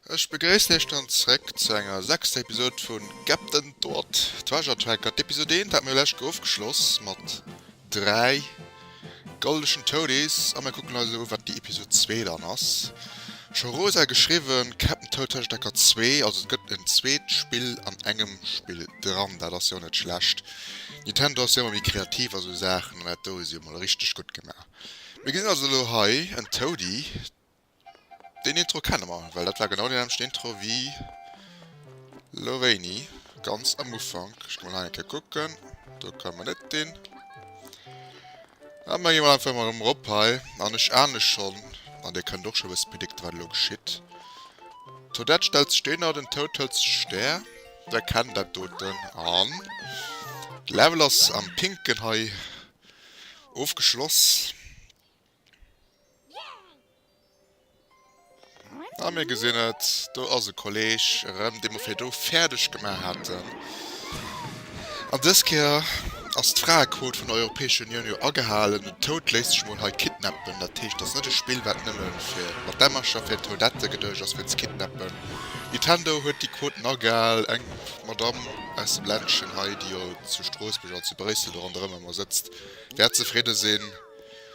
Ech begréissen iech dann zréck zu enger sechster Episode vu Captain Toad Treasure Tracker. D'Episode 1 hat mir jo läscht Joer ofgeschloss mat 3 goldegen Toadies a mir kucken eis elo u wat déi Episode 2 dann ass. Scho Rosa huet geschriwwen, Captain Toad Treasure Tracker 2, also et gëtt en zweet Spill an engem Spill dran, dat ass jo net schlecht. Nintendo ass jo emmer méi kreativ a sou Saachen, an dat do hu si emol richteg gutt gemaach. Mir gesinn also elo hei en Toady. Deen Intro kenne mer, well dat war genau deen nämmlechten Intro wéi elo wéini, ganz am Ufank. Ech ginn emol hei eng Kéier kucken, do kommen mer net hin. Ëmmer meng emol einfach emol erëm erop hei an ech ahne schonn an dir kënnt och scho bësse predikte wat elo geschitt. D'Toadette stellt sech deen er, den Toad hëlt sech de Stär, dir erkennt dat doten an d'Level ass am Pinken hei ofgeschloss. A mir gesinn et, do ass e Kolleeg erëm, dee mer virdu fäerdeg gemaach haten. An dës Kéier ass d'Fraequot vun der Europäescher Unioun jo agehalen. Den Toad léisst sech mol hei kidnappen. Dat heescht, et ass net e Spill, wat nëmme fir mat Dämmercher fir Toadette geduecht ass, fir ze kidnappen. Nintendo huet déi Quoten agehal. Eng Madamm aus dem Ländchen hei, déi jo zu Stroossbuerg an zu Bréissel do ronderëm ëmmer sëtzt, wäert zefridde sinn.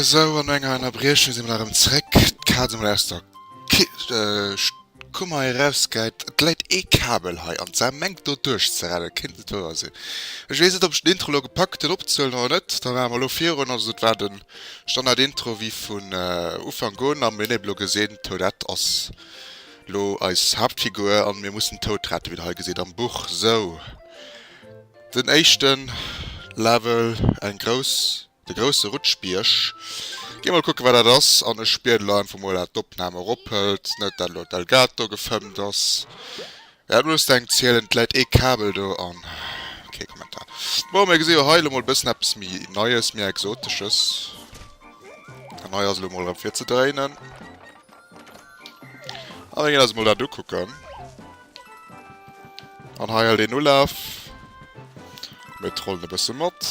Esou, an enger Ennerbriechung si mer nach erëm zréck. D'Kaz emol aus der Kummer erausgehäit. Et läit ee Kabel hei an d'Sar mengt do duerchzerennen, kéint net wouer sinn. Ech weess net, ob ech den Intro elo gepackt hunn opzehuelen oder net. Da maache mer elo virun. Also dat war den Standard-Intro wéi vun Ufank un. A mir hunn eebe elo gesinn, d'Toadette ass elo eis Haaptfigur an mir mussen d'Toad rette, wéi der hei gesäit am Buch. Sou. Den éischten Level, eng grouss, de grousse Rutschbierg. Gin mol kucken wat dat ass, an ech bieden lo einfach mol dat d'Opnahm erop hëllt, net dat lo d'Elgato gefëmmt ass. Wer hat Lust eng ze hielen, et läit ee Kabel do an kee Kommentar. Bon mir gesi jo hei lo mol bëssen eppes méi neies, méi exotesches, an hei ass lo mol rem fir ze dréinen, a mir gin eis mol dat ukucken. An hei hält een Ulaf. Mir trollen e bësse mat.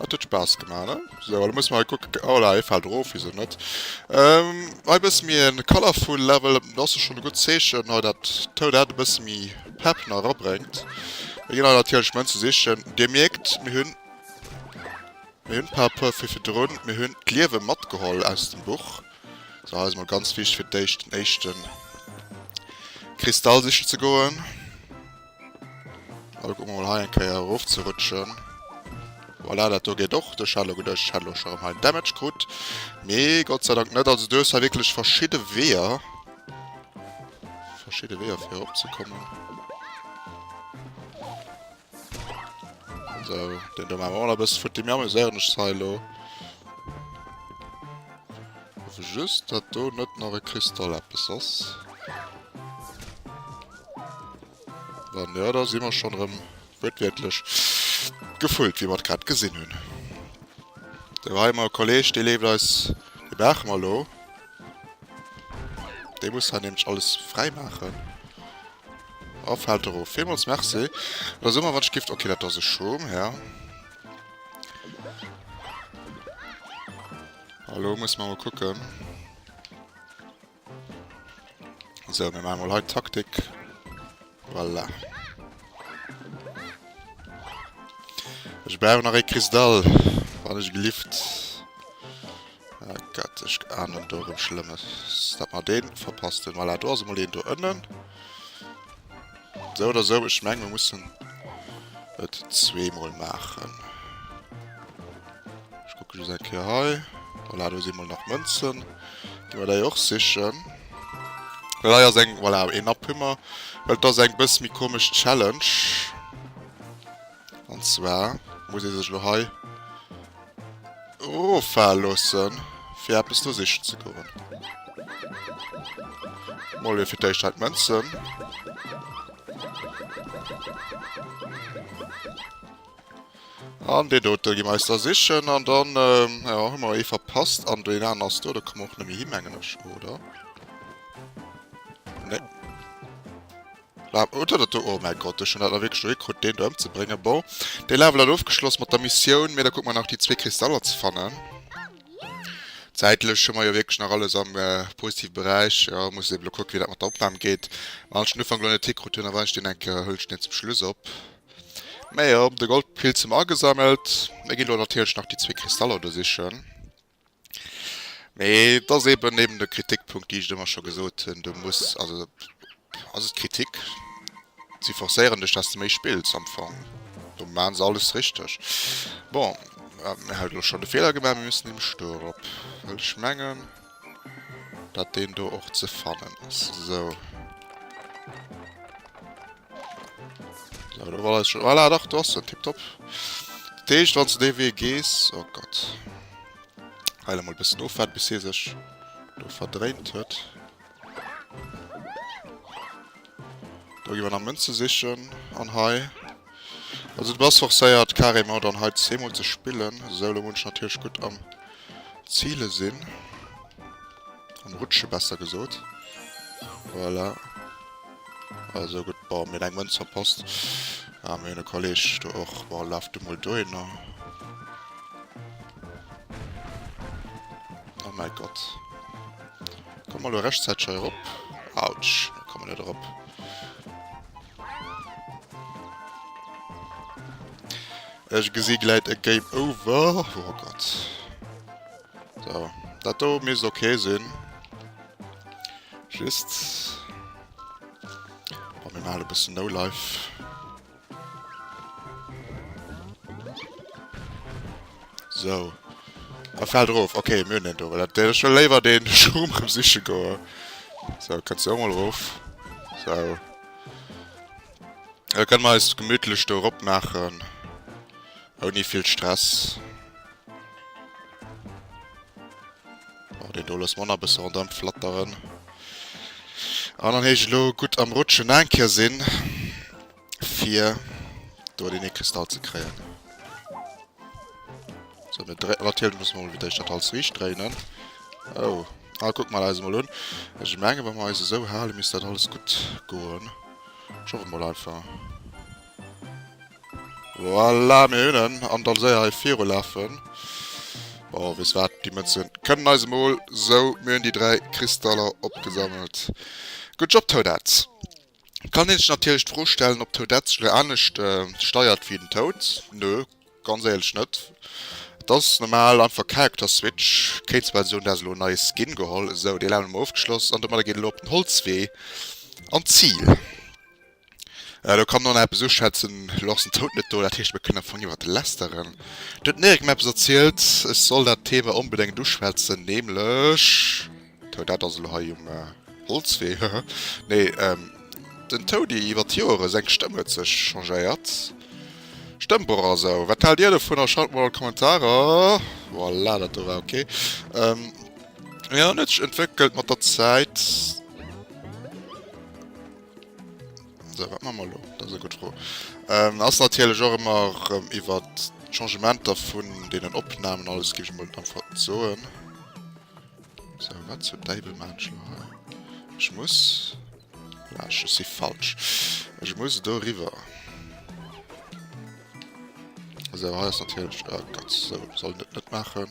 Dat huet Spaass gemaach, ne? So, da muss mal kucken. Oh la, e fält erof, wieso net? Ähm, hei bësse mi e colorful Level. Dat ass schonn e gutt Zeechen, hei dat d'Tounart e bësse méi Pepp nach erabréngt. Mir ginn hei natierlech Mënz u sichen. Dir mierkt, mir hunn, mir hunn par rapport fir virdrun, mir hunn d'Liewe matgeholl aus dem Buch. So hei ass mol ganz wichteg fir d'éischt den éischten Kristall sichen ze goen. Lo kucken mer mol hei eng Kéier erof ze rutschen. Voilà, dat do geet och. Duerch hat lo geduecht ech hätt lo scho rem hei Damage krut. Nee, Gott sei Dank net. Also du hues hei wierklech verschidde Weeër. Verschidde Weeër fir erop ze kommen. So, den do machen wir noch bis futti. Mir amüsieren uns hei lo. Just, dass do nicht noch ein Kristall etwas ist. Dann, ja, da sind wir schon drin. Wird wirklich gefüllt, wie wir es gerade gesehen haben. Da war immer ein Kollege, der lebt als den machen wir lo. Der muss dann nämlich alles frei machen. Oh fällt der of. Villmols merci. Da so mer wat ech gift. Ok dat ass e Schom ja. Hallo muss man mal kucken. So mir machen mal halt Taktik. Voilà. Ech bleiwen nach e Kristall. Wann ech gelift. Oh Gott, ech ahnen do erëm Schlëmmes. Dat mar dee verpassten. Voilà, do ass emol een do ënnen. Esou oder esou, ech menge mir mussen et zweemol maachen. Ech kucke just eng Kéier hei. Voilà, do si mol nach Mënzen. Gi mer déi och sichen. Well hei ass eng, voilà, een Napp hu mer. Well et ass eng bësse méi komesch Challenge. An zwar muss ee sech elo hei. Rofaal loossen fir eppes do sichen ze goen. Mol jo fir d'éischt hei d'Mënzen. An dee dote gi mer eis da sichen an dann jo hu mer ee verpasst an deen aneren ass do. Da komme mer och net méi hi mengen ech, oder? Nee. Laaf oh dat dat do oh mäi Gott ech hun dat nach wierklech do hikrut deen do emzebréngen bon dee Level hat ofgeschloss mat der Missioun mee da kucke mer nach déi zwee Kristaller ze fannen zäitlech hu mer jo wierklech nach alles am positive Beräich jo muss ech eben lo kucken wéi dat mat der Opnahm geet wann ech den Ufank lo net hikrut hun a wann ech deen enke huelen ech deen zum Schluss op mee jo de Goldpilz hu mer agesammelt mir ginn lo natierlech nach déi zwee Kristaller do sichen. Mee et ass eben eben de Kritikpunkt, déi ech ëmmer scho gesot hunn, du muss, also ass et Kritik? Si forcéieren dech, dass du méi spills am Fong. Do maan se alles richteg. Bon, mir hat lo schon de Fehler gemaat, mir müssen dem Stur erop, well ech mengen dat deen do och ze fannen ass. Sou. Voilà, dach, du hast den Tipptopp. Deeg, wann du dee Wee gees. Oh Gott. Heile mal bis no fährt, bis hier sech do verdreint huet. Da gi wir nach Münze sichchen an hei. Also du bass forcéiert carrément dann hei zeemol ze spillen. Solo muss ich natürlich gut am Ziele sinn. Am Rutsche besser gesot. Voilà. Also gudd bon mir hun eng Mënz verpasst a mir hun e Kolleg do och bon laf du mol dohinner oh mäi Gott komm mol lo rechtzäiteg hei erop autsch mir kommen net erop ech gesi gläit e Game Over oh Gott. So, dat do misst ok sinn. Just. Wa mir male bëssen no life. So. A fäll drof. Ok, myn en do. Dat dé schon léiwer den Schum rem siche goe. So, kannst du mal rof. So. Da können wir eis gemütlich do rop machen. Ohne viel Stress. Oh, den do loosse mer nach e bësse rondrëm flatteren. An dann heescht et elo gutt am Rutschen eng Kéier sinn, fir do deen ee Kristall ze kréien. So, mir dréi-, natierlech muss mer emol fir d'éischt dat alles riicht dréinen. Oh, ah, kucke mer eis emol un. Ech menge, wa mer eis esou halen, misst dat alles gutt goen. Ech hoffe mol einfach. Voilà, mir hunn en! An dann séier hei virulafen. Oh, weess wat, déi Mëtzen kënnen eis emol. Sou, mir hunn déi dräi Kristaller opgesammelt. Good job, Toadette! Et kann een sech natierlech d'Fro stellen, ob d'Toadette sech elo anescht steiert wéi den Toad. Nö, ganz éierlech net. Et ass normal, einfach Character Switch. Kéint zwar soen, dat ass elo en neie Skin geholl. Sou, dee Level hu mer ofgeschloss an domadder geet et elo op den Holzwee an d'Zil. Elo kann d'Nona eppes uschwätzen, elo ass den Tout net do, dat heescht, mir kënnen am Fong iwwert Lästeren. Do huet d'Nerik mir eppes erzielt, ech soll dat Thema onbedéngt uschwätzen, nämlech, Tout, dat ass elo hei um Holzwee, hehe, nee, den Toudi iwwert d'Joere, seng Stëmm huet sech changéiert, Stëmmbroch a sou. Wat haalt Dir dovunner? Schreift mol an d'Kommentarer. Voilà, dat do war ok. Jo, en huet sech entwéckelt mat der Zäit. So, wat machen wir lo? Dat ass eng gutt Fro. Ähm, ass natierlech och ëmmer ähm, iwwer d'Changementer vun deenen Opnamen alles gi mol einfach soen. So, wat zu Deibel Manschlo ha. Ech muss. Ja, ech si falsch. Ech muss do riwer. So, ha ass natierlech. Oh Gott, so soll net net machen.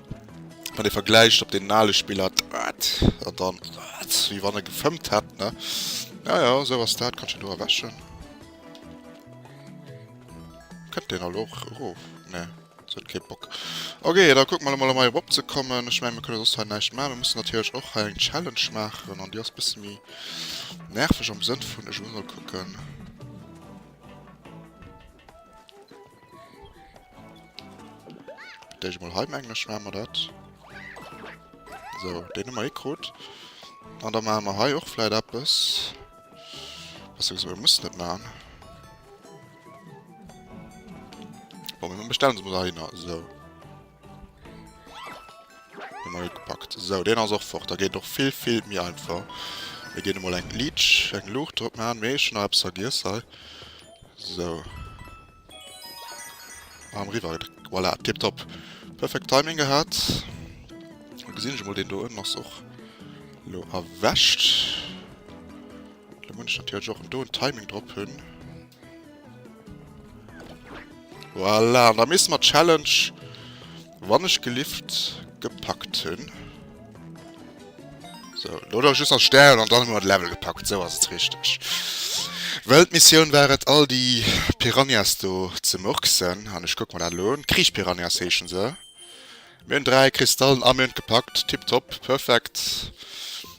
Wann e vergläicht op den ale Spiller dat an dann dat, wéi wann e gefëmmt hätt, ne? Ja, ja, esou ass dat. Kanns de do erwäschen? Kënnt deen elo och erof? Nee, se huet kee Bock. Ok, da kucke mer emol, emol hei erop ze kommen. Ech mengen, mir kënne soss hei näischt maachen. Mir mussen natierlech och hei eng Challenge maachen an déi ass e bësse méi nerveg am Sënn vun, ech muss emol kucken. Dei ech mol hei mengen ech maan mer dat. So den hun mer eh krut. An da maan mer hei och vläit eppes. Beziehungsweise mer mussen et maan. Bon mir bestellen se mol da hinner. So. Emol gepackt. Sou, deen ass och fort. Da geet et och vill, vill méi einfach. Mir ginn emol eng Leech, eng Luucht drop maachen. Mee ech hunn nach eppes vergiess hei. Sou. Arm riwwer. Voilà, tiptop. Perfekt Timing gehat. Da gesinn ech emol, deen do ënnen ass och elo erwächt. Da muss ech natierlech och do en Timing drop hunn. Voilà, an da misse mer d'Challenge wann ech gelift gepackt hunn. So, lo da just nach Stären an dann hu mer d'Level gepackt, sou ass et richteg. Well d'Missioun war et all déi Piranhas do ze murksen an ech kucke mer dat elo un. Kriechpiranhas heeschen se. Mir hunn 3 Kristallen a mir hunn et gepackt, tipptopp, perfekt.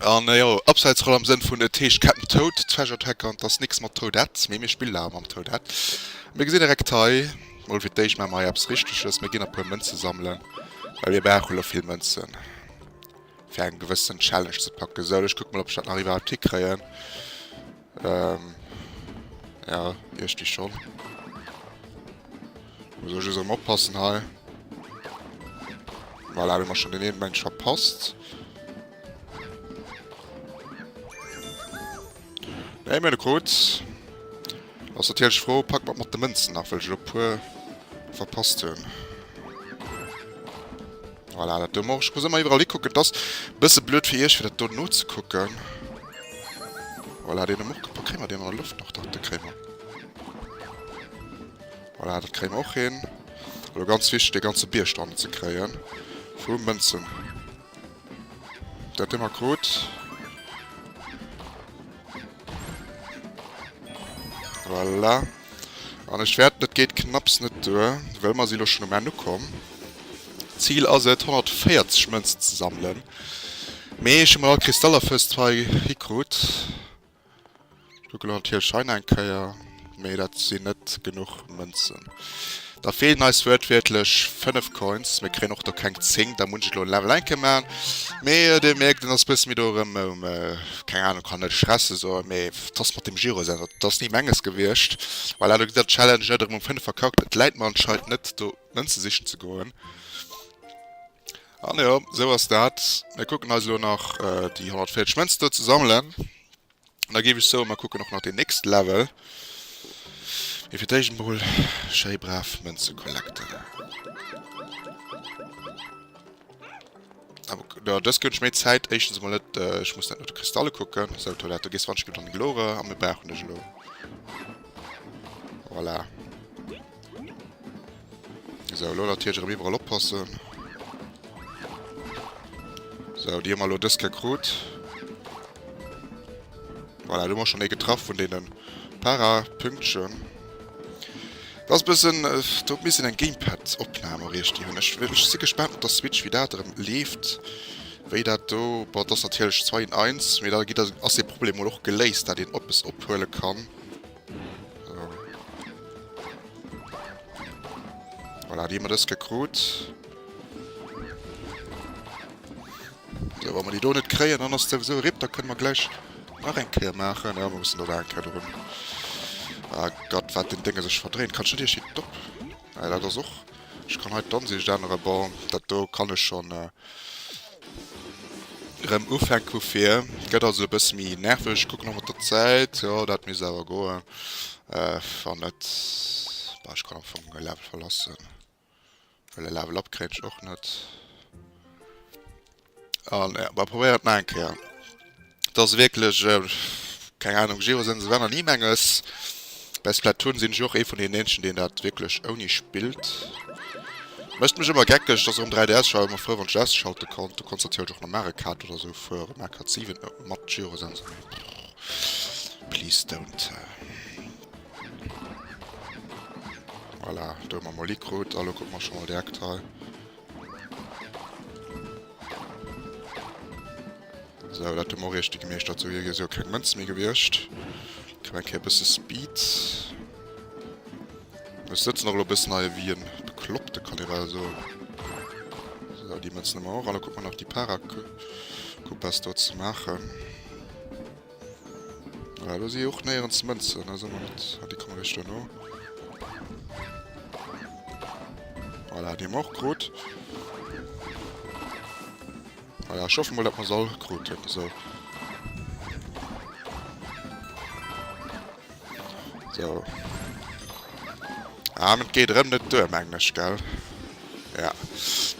An jo, Abseitsroll am Sënn vun et heescht Cap'n Toad, Treasure Attack an et ass nix mat Toadette, mee mir spillen awer mam Toadette. Mir gesinn direkt hei, mol fir d'éischt maache mer hei eppes Richteges, mir ginn e puer Mënze sammelen, well mir brauchen elo vill Mënzen, fir eng gewëssen Challenge ze packen. Sou, ech kucke mol, ob ech dat nach iwwerhaupt hikréien. Ehm ja iergdi schon. Muss ech just am oppassen hei. Voilà, hun mer schon den een Mensch verpasst. Ey mir de Code. Ass natierlech froh, pack mat mat de Mënzen nach, well ech lo puer verpasst hunn. Voilà, dat do moch ech. Muss ëmmer iwwerall hikucken. Et ass bësse blöd fir iech, fir dat do nozekucken. Voilà, deen hu mer och gepackt. Kréie mer deen an der Loft nach? Dach, dee kréie mer. Voilà, dat kréie mer och hin. Elo ganz wichteg, dee ganze Bierg do hannen ze kréien. Vu Mënzen. Dat hu mer krut. Voilà. An ech wäerten, et geet knapps net duer, well mer si lo schonn um Enn ukomm, d'Zil ass et, 140 Mënzen ze sammelen, mee ech hu mol all Kristaller fest hei hikrut. Ech kucke lo natierlech hei nach eng Kéier, mee dat sinn net genuch Mënzen. Da feelen eis wuertwiertlech 5 Coins. Mir kréien och do keng 10, da muss ech elo en Level enke maachen. Mee Dir mierkt, en ass e bësse méi do erëm, keng Ahnung, kann net Stresse soen, mee dass mat dem Giro säin, dat ass ni menges gewiescht. Voilà, do gëtt der Challenge net erëm um 5 verkackt. Et läit mer anscheinend net do en ze sichen ze goen. An jo, esou ass dat. Mir kucken eis elo nach déi 140 Mënzen do ze sammelen. Da géif ech soen, mer kucken och nach den nächste Level. Mee fir d'éischt emol schéi brav Mënze collecten. Jo, dës gëtt méi Zäit. Éischtens emol net, ech muss net no de Kristalle kucken. Sou, Toilette, du gees wann ech gëtt an de Gloire a mir brauchen dech elo. Voilà. So, lo natierlech erëm iwwerall oppassen. So, déi hu mer lo dës Kéier krut. Voilà, du mer schon ee getraff vun deenen Para-Pünktchen. Das ist bisschen, äh, dort müssen ein Gamepad Opnahme richtig hun. Ich, ich si gespannt mit der Switch wie dat erem lebt. Wéi dat do boah, das natürlich 2 in 1, mir da gi ass de Problem wohl och geléist, dat een Oppes ophuele kann. Voilà, die man das gekrut. So, wenn wir die do nicht kriegen, dann ist sowieso RIP, da können wir gleich nach ein Kehr machen. Ja, wir müssen da ein Kehr drin. Ah Gott, was den Dinge sich verdrehen. Kannst du dir hier top? Ja, das ist auch. Ich kann halt dann sich dann Bau. Das do kann ich schon. Äh Rem ufänk vu vir gëtt also e bësse méi nerveg. Ech kucken och mat der Zäit, jo dat misst awer goen. Wann net, bah ech kann am Fong e Level verlassen, well e Level up kréien ech och net. An bah probéieren et nach eng Kéier. Dass wierklech keng Ahnung Giro sense wann an Imenges bei Splatoon sinn ech och ee vun den Eenschen deen dat wierklech ouni spillt. Mécht mech ëmmer geckeg, dass erëm 3DS ech war ëmmer frou wann ech ausschalten konnt, du konns natierlech och no Mario Kart oder sou fueren, Mario Kart 7 mat Giro sense nee brrr please don't. Voilà do hu mer mol Icrut a lo kucke mer scho mol direkt hei. So, dat hu mer och richteg gemeeschtert. Sou, hei si jo keng Mënze méi gewiescht. Kréien eng Kéier e bësse Speed. Ech sëtzen och elo e bëssen hei ewéi e Bekloppte, kann ee bal soen. So, déi Mënzen hu mer och. An da kucke mer nach déi Para-Coupas do ze maachen. Ah, do si och néierens Mënzen, also man net. Ah, déi komme richter no. Voilà, déi och krut. Voilà, ich hoffe mal, dass man soll kruten. So. So. Ah, mit geht rem net duer, meng ich, gell? Ja.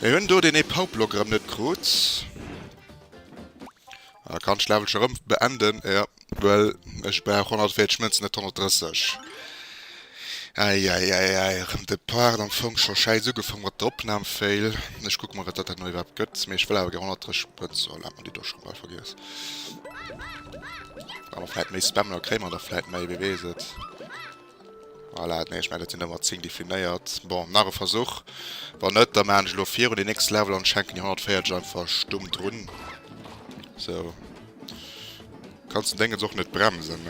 Wir hunn do den e Paublock rem net krut. A kann d'Schläwwelcher rëm beenden? Jo. Well ech brauch 140 Mënzen, net 130. Äiäiäiäi, rëm de Part. Am Fong scho schäiss ugefong mat der Opnahm. Fail. Ech kucke mol, wat dat herno iwwerhaapt gëtt. Mee ech wëll awer gär 130 Mënzen. Sou, lat mer déi do scho bal vergiess. Wa mer vläit méi spammen, da kréie mer der vläit méi, wee weess et. Voilà, nee ech mengen et sinn ëmmer 10 definéiert. Bon, nach e Versuch. Wann net, da maachen ech elo virun den nächste Level an schenken déi 140 einfach stumm drun. Sou. Kanns den Déngens och net bremsen.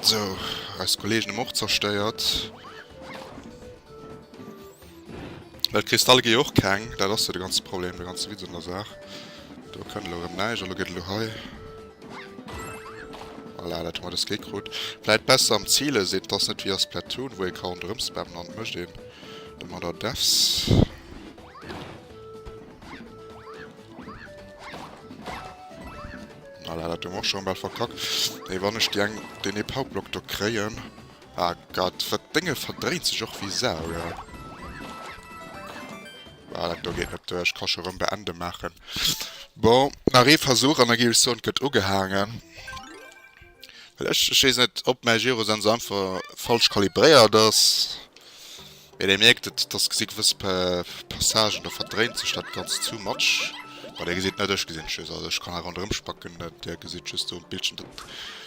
Sou, eis Kollegen ëm och zerstéiert. Well Kristalle gi jo och keng, dat ass jo de ganze Problem, de ganze Witz un der Saach. Do kënnt elo erëm näischt, elo geet elo hei. Voilà, dat hu mer dës Kéi krut. Vläit besser am Zile sinn, et ass net wéi a Splatoon, wou ee ka ronderëm spammen an et mécht een de Murder Deaths. Voilà, dat hu mer och schonn bal verkackt. Mee wann ech déi eng, deen ee Powerblock do kréien, Ah Gott, wat Dénge verdréint sech och wéi Sau, jo. Ah, dat do geet net duer. Ech ka scho rëm beende maachen. Bon, nach ee Versuch an da géif ech soen, et gëtt ugehaangen. Well ech, ech weess net, ob mäi Gyrosense einfach falsch kalibréiert ass. Mee där mierkt et, dass gesi gewëss Passagen do verdréint sech dat Ganzt too much. Bon, Dir gesitt net, ech gesinn et just, also ech kann nach ronderëm spacken. Dir gesitt just do um Bildschirm,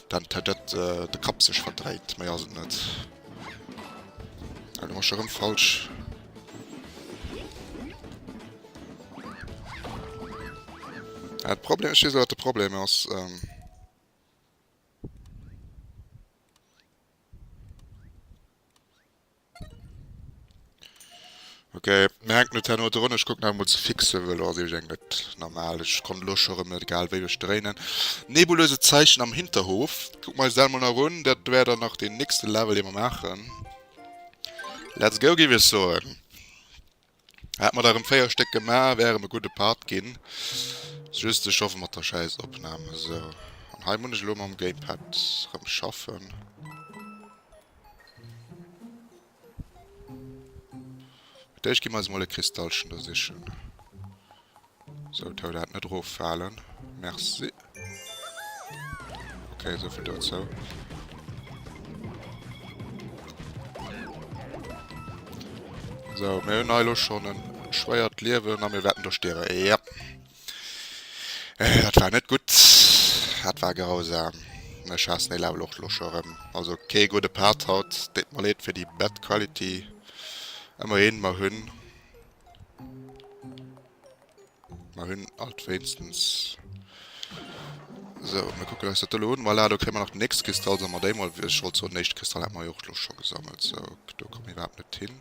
datt den Tëtëtt, de Kapp sech verdréit. Méi ass et net. Elo mach ech erëm falsch. Ah, de Problem, ech weess, wat de Problem ass. Ok mir hänken net herno drun, ech kucken awer mol ze fixen wëll lo ass iergend eng net normal, ech konnt elo scho rem net, egal wéi ech dréinen. Nebulöse Zeichen am Hinterhof, kucken mer eis dat mol nach un, dat wär dann nach den nächste Level dee mer maachen. Let's go géif ech soen. Hat mer der rem 4 Stéck gemach, wär rem e gudde Part ginn. Just ech schaffe mat der schäiss Opnahm esou. An hei mun ech elo mam Gamepad rem schaffen. Fir d'éischt gi mer eis mol e Kristallchen do sichen. Sou tau dat net erof faalen merci. Ok souvill dozou. Sou mir hunn hei lo schon en schwéiert Liewen a mir wäerten do stierwen ja. Dat war net gutt, dat war grausam. Ech haassen dee Level och lo scho rëm. Also kee gudde Part haut, deet mer leed fir déi bad quality. Ëmmerhin mer hunn Mer hunn alt wéinstens. Sou, mir kucken eis dat do elo un. Voilà, do kréie mer nach den nächste Kristall. Solle mer déi mol, wéi ech wollt soen, den éischte Kristall hat mer jo och elo scho gesammelt. Sou, do komme mir iwwerhaapt net hin.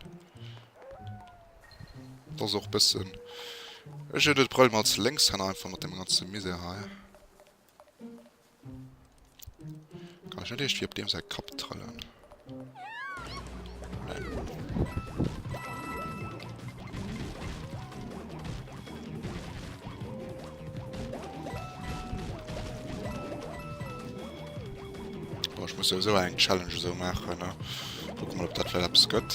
Dat ass och e bëssen. Ech huet et Brëll mat Lénkshänner einfach mat deem ganze Misär hei. Kann ech net eescht fir op deem säi Kapp trëllen? muss eso eng Challenge eso machen ne? Guck mal op dat Verlaps gëtt.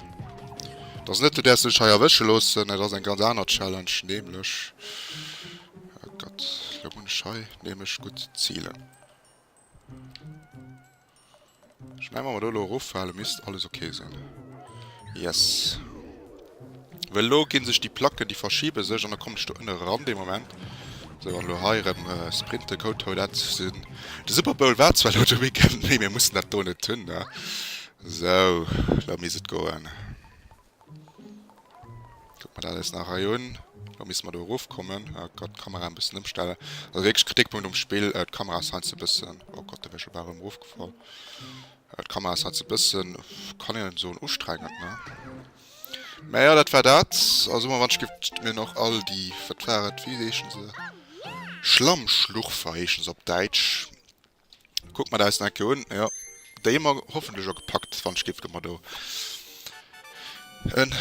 Et ass net de däers du dech hei erwësche loossen, et ass eng ganz aner Challenge nämlech oh Gott lo hunn ech hei nämlech gutt zielen. Ech menge wa mer do lo eroffale misst alles ok sinn. Yes. Well lo ginn sech déi Placken déi verschibe sech an da kommen ech do ënne ran dee Moment. Sou an lo hei erëm Sprinte Koto dat sinn. De Super Bowl war zwar lo de Weekend mee mir mussen dat do net hunn ne. Sou, elo misst et goen. Kucke mer dat eis nach hei un. Elo misste mer do erof kommen. Oh Gott, d'Kamera e bëssen ëmstellen. Also wierklech Kritikpunkt um Spill, d'Kamera ass heiansdo e bëssen, oh Gott, do wär ech awer erëm erofgefall. D'Kamera ass heiansdo e bëssen, kann een soen, ustrengend, ne? Mä jo, dat war dat. Also hu mer wann ech giff d'Minen och all déi, wat war et, wéi heeschen se, Schlammschlurfer heeschen se op Däitsch. Kuck mer deis Ecke un, jo déi hu mer hoffentlech och gepackt, wann ech géif do mar do en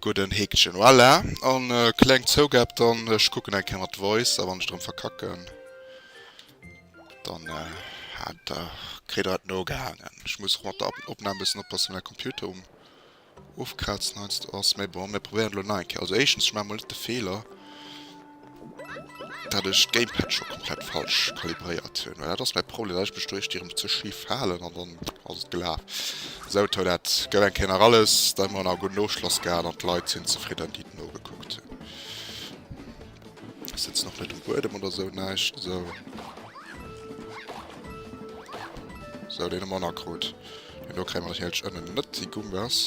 gudden Häkchen, voilà an kleng Zougab dann, ech kucken eng Kéier mat Voice a wann ech drem verkacken dann hat der, kritt der et nogehaangen. Ech muss och mat der Opnahm bessen oppassen, well mäi Computer um Ofkrazen heiansdo ass, mee bon, mir probéieren et elo nach eng Kéier. Also éischtens, ech maache mol net de Feeler, dat ech d'Gamepad scho komplett falsch kalibréiert hunn, well dat ass mäi Problem, dat ech mech do éischt irem ze schif halen an dann ass et gelaf. Sou, tau, dat gouf eng Kéier nach alles, da hu mer nach e gudden Ofschloss gehat an d'Leit sinn zefridden, déi et nogekuckt hunn. Ech sëtzen och net um Buedem oder sou näischt, sou. Sou, deen hu mer nakrut. An do kréie mer natierlech ënnen net déi Gumbas.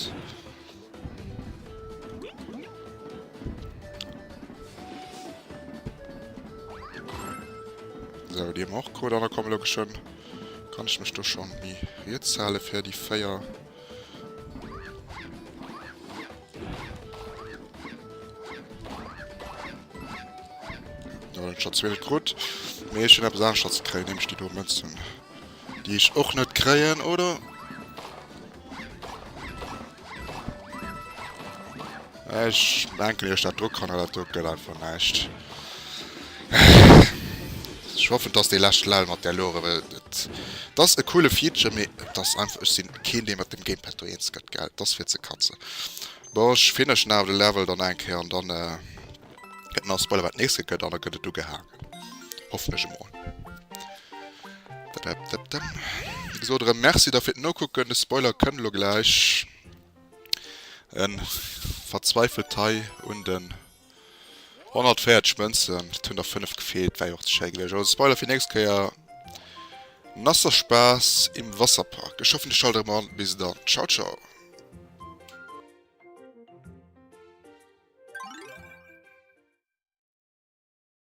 Sou, déi hu mer och krut an da komme elo geschwënn. Kann ech mech do schonn mi riets hale fir déi 4. Schatz will gut mir schon ab sagen Schatz kre nämlich die Domatzen die ich auch nicht kreen oder Ech denken iech dat dru kanner, dat do gëtt einfach näischt. Ech hoffen dass dee lescht Lell mat där Luere, well et ass e coole Feature, mee et ass einfach, ech sinn keen dee mat dem Gamepad do eens gëtt, gell, et ass fir ze katzen. Bon, ech fineshen awer de Level dann eng Kéier an dann gëtt mer Spoiler wat nächste gëtt an da gëtt et ugehaangen, hoffen ech emol. Dadadadam. Ech sot erëm Merci da fir d'Nokucken, de Spoiler kënnt elo gläich. En verzweifelt hei un den 140 Mënzen, et hunn der 5 gefeelt, wär jo och ze schéi gewiescht. Also Spoiler fir nächst Kéier, Nasser Spaß im Wasserpark. Ech hoffen dir schallt erëm an, bis dann, ciao ciao.